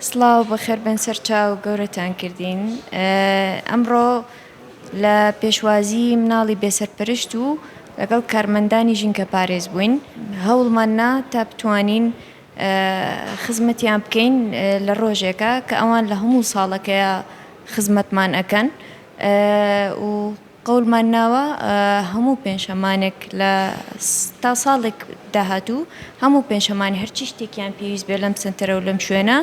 سڵاو بەخێربێن سەرچاو گەورەتان کردین ئەمڕۆ لە پێشوازی مناڵی بێسەرپەرشت و لەگەڵ کارمەندانی ژینکە پارێز بووین هەوڵمان نا تا بتوانین خزمەتیان بکەین لە ڕۆژێکە کە ئەوان لە هەموو ساڵەکەیە خزمەتمان ئەەکەن و قەولمان ناوە هەموو پێنجشەمانێک لە تا ساڵێک داهاتوو هەموو پێنجشەمانێ هەرچی شتێکیان پێویست بێ لەم سنتەرە و لەم شوێنە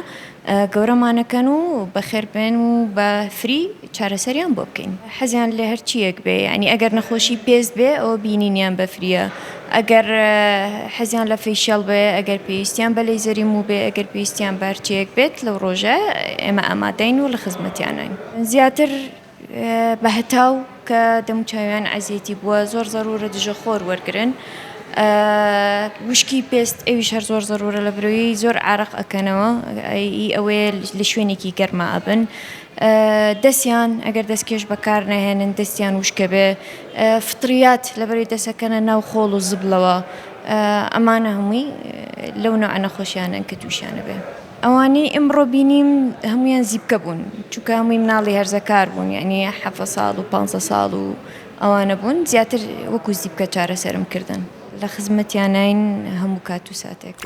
گەورەمانەکەن و بەخێربێن و بە فری چارەسەریان بۆ بکەین حەزیان لە هەرچیەک بێ ینی ئەگەر نەخۆشی پێست بێ ئەو بینینیان بەفریە ئەگەر حەزیان لە فیشیال بێ ئەگەر پێویستیان بە لی زەری و بێ ئەگەر پێویستیان بارچەیەک بێت لەو ڕۆژە ئێمە ئامادەین و لە خزمەتیانین زیاتر بەهتاو کە دەموو چاویان عەزێتی بووە زۆر زەرورە دژە خۆر وەرگرن وشکی پێست ئەویش هەر زۆر زەرورە لە برۆی زۆر عرق ئەکەنەوە ئی ئەوەیە لە شوێنێکی گەرما ئەبن دەسیان ئەگەر دەسکێش بەکار نەهێنن دەسیان وشکە بێ فطریات لە بەری دەسەکەنە ناو خۆڵ و زبلەوە ئەمانە هەمووی لەو نەوعە نەخۆشیانەن کە تووشیانە بێ. ئەوانەی ئمڕۆ بینیم هەموویان زیپکە بوون چونکە هەمووی مناڵی هەرزەکار بوون یعنی حەڤە ساڵ و پانزە ساڵ و ئەوانە بوون زیاتر وەکو زیپکە چارەسەرم کردن لە خزمەتیانین هەموو کات و ساتێک.